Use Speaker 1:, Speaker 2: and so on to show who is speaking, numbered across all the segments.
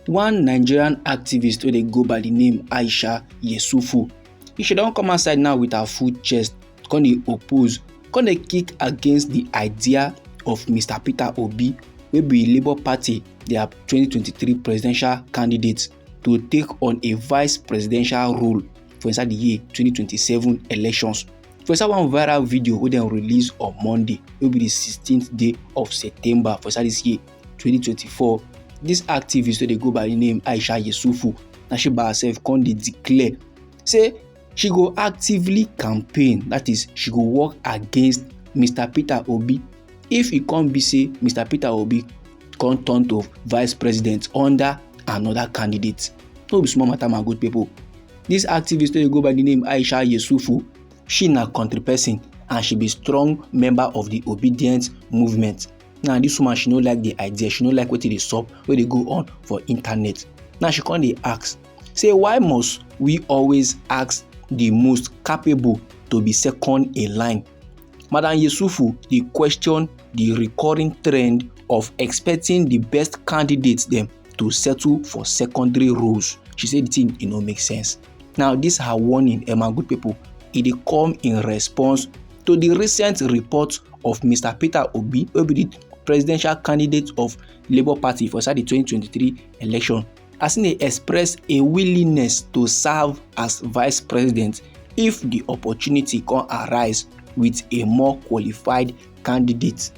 Speaker 1: one nigerian activist wey dey go by di name aisha yesufu she don come outside now with her full chest come dey oppose come dey kick against di idea of mr peter obi wey be labour party dia 2023 presidential candidate to take on a vice presidential role for inside the year 2027 elections for inside one viral video wey dem release on monday wey be the 16th day of september for inside this year 2024 this activist wey dey go by the name aisha yesufu na she by herself come dey declare say she go actively campaign that is she go work against mr peter obi if e come be say mr peter obi come turn to vice president under another candidate no be small matter my good people this activist wey go by the name aisha yesufu she na country person and she be strong member of the obedient movement now this woman she no like the idea she no like wetin dey sup wey dey go on for internet now she come dey ask say why must we always ask the most capable to be second in line? Madam Yesufu dey question the recurring trend of expecting the best candidates them to settle for secondary roles. She said the thing e no make sense. Now this her warning, Emma good people, e dey come in response to the recent report of Mr. Peter Obi, Obi presidential candidate of Labour Party for inside the 2023 election as e express a willingness to serve as vice president if di opportunity come arise with a more qualified candidate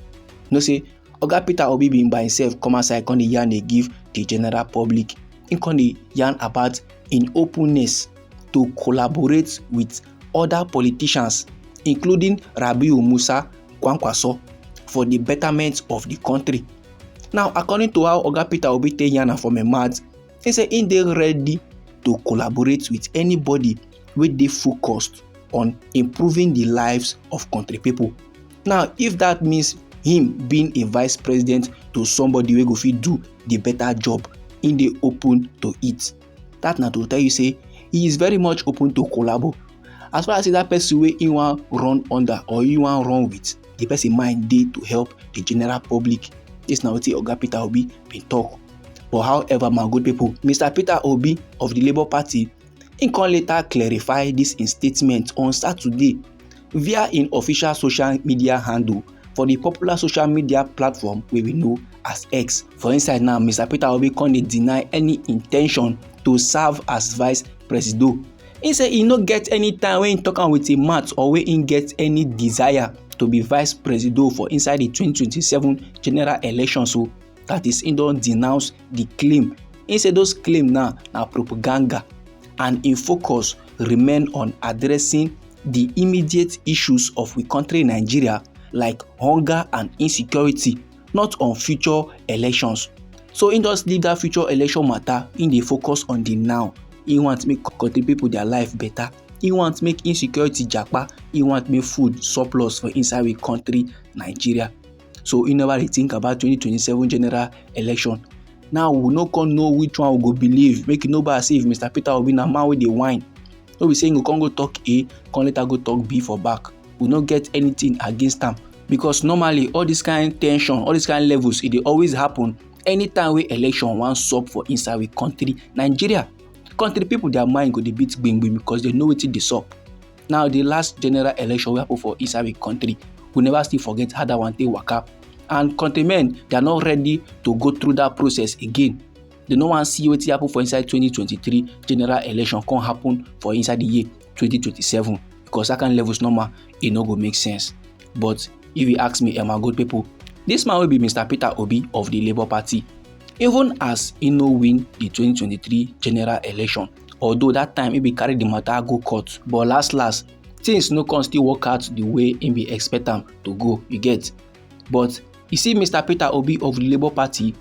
Speaker 1: know say oga peter obi bin by himself come outside come dey yarn dey give di general public im come dey yarn about im openness to collaborate with oda politicians including rabiu musa kwankwaso for di betterment of di kontri Now, according to how Oga Peter Obi take yarn am for my mouth, he say he dey ready to collaborate with anybody wey dey focused on improving the lives of country people. Now, if that means him being a vice president to somebody wey go fit do the better job, he dey open to it. that na to tell you say he is very much open to collabo as far as say that person wey he wan run under or he wan run with the person mind dey to help the general public this na wetin oga peter obi bin talk but however my good people mr peter obi of the labour party he come later clarify this im statement on saturday via im official social media handle for di popular social media platform wey we know as x for inside now mr peter obi come dey deny any intention to serve as vice presido He say he no get any time wey he talk am with im mouth or wey he get any desire to be vice presido for inside di 2027 general election so that is he don denounce di claim im say those claim now na propaganda and im focus remain on addressing di immediate issues of we country nigeria like hunger and insecurity not on future elections so im just leave dat future election matter im dey focus on di now im want make country pipo dia life better im want make insecurity japa im want make food surplus for inside we country nigeria so he never dey think about 2027 general election now we no come know which one we go believe make e no be as if mr peter obi na man wey dey whine no be say he go come go talk a come later go talk b for back we no get anything against am because normally all this kind tension all this kind levels e dey always happen anytime wey election wan sup for inside we country nigeria country people their mind go dey beat gbingbin because they know wetin dey sup Now the last general election wey happen for inside the country, we never still forget how that one take waka and countrymen they are not ready to go through that process again. They no wan see wetin happen for inside 2023 general election come happen for inside the year 2027 because that kind levels normal e no go make sense. But if you ask me, Emma good people, this man will be Mr. Peter Obi of the Labour Party even as he no win the 2023 general election. although that time he bin carry the matter go court but last last things no come still work out the way he bin expect am to go you get but you see mr peter obi of the labour party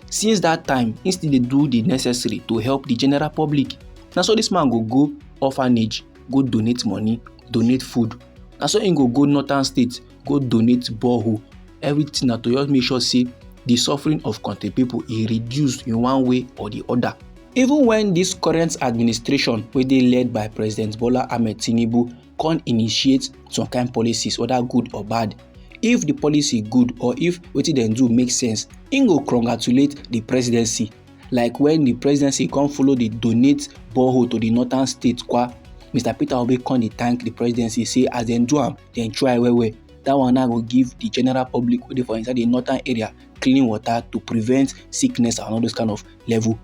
Speaker 1: since that time he still dey do the necessary to help the general public na so this man go go orphanage go donate money donate food na so he go go northern state go donate borehole everything na to just make sure say the suffering of country people e reduce in one way or the other even when this current administration wey dey led by president bola ahmed tinubu come initiate some kind policies whether good or bad if the policy good or if wetin dem do make sense im go congratulate the presidency like when the presidency come follow dey donate borehole to the northern states kwa mr peter obi come dey thank the presidency say as dem do am dem try well well that one now go give the general public wey dey for inside the northern area clean water to prevent sickness and all those kind of level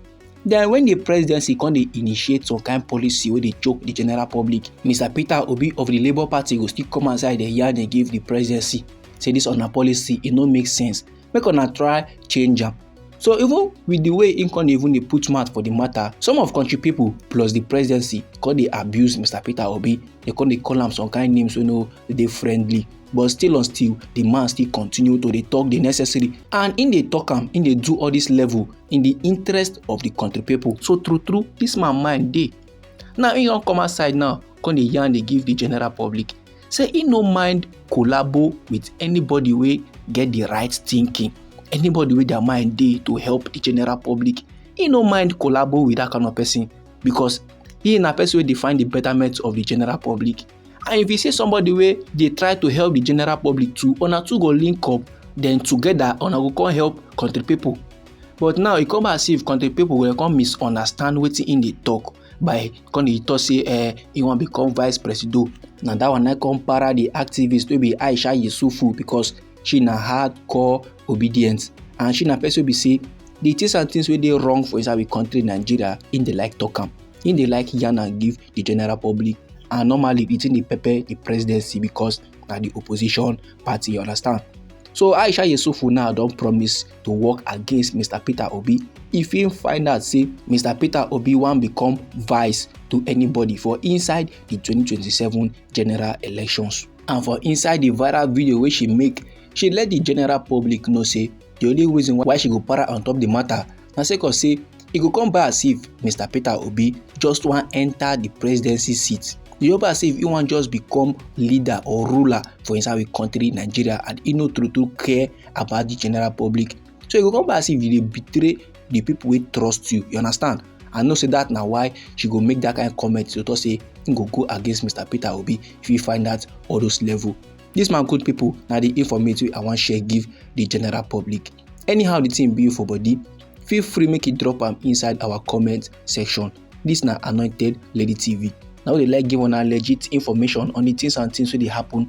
Speaker 1: then when the presidency come dey initiate some kind policy wey dey choke the general public mr peter obi of the labour party go still come outside dey yarn dey give the presidency say this una policy e no make sense make una try change am so even with the way im con dey even dey put mouth for the matter some of country people plus the presidency con dey abuse mr peter obi dey con dey call am some kind names wey no dey friendly but still on still the man still continue to dey talk the necessary and im dey talk am im dey do all this level in the interest of the country people so true true this man mind dey now im don come outside now con dey yarn dey give the general public say he no mind collabo with anybody wey get the right thinking anybody wey their mind dey to help the general public he no mind collabo with that kind of person because he na person wey dey find the betterment of the general public and if you see somebody wey dey try to help the general public too una two go link up then together una go come help country people but now e come as if country people go come misunderstand wetin im dey talk by come dey talk say eh he wan become vice presido na that one na come para the activist wey be aisha yusufu because she na hardcore obedient and she na person wey be say the things and things wey dey wrong for inside we country nigeria im dey like talk am im dey like yarn am give the general public and normally the thing dey pepper the presidency because na the opposition party you understand so aisha yesufu now don promise to work against mr peter obi if he find out say mr peter obi wan become vice to anybody for inside the 2027 general elections and for inside the viral video wey she make she let the general public know say the only reason why she go para on top the matter na sake of say e go come by as if mr peter obi just wan enter the presidency seat e go by as if e wan just become leader or ruler for inside we country nigeria and e no true true care about the general public so e go come be as if you dey betray the people wey trust you you understand i know say that na why she go make that kind of comment to talk say im go go against mr peter obi if he find out all those level this man good people na the informate wey i wan share give the general public anyhow the thing be for body feel free make you drop am inside our comment section this na anointed lady tv na we dey like give una legit information on the things and things wey dey happen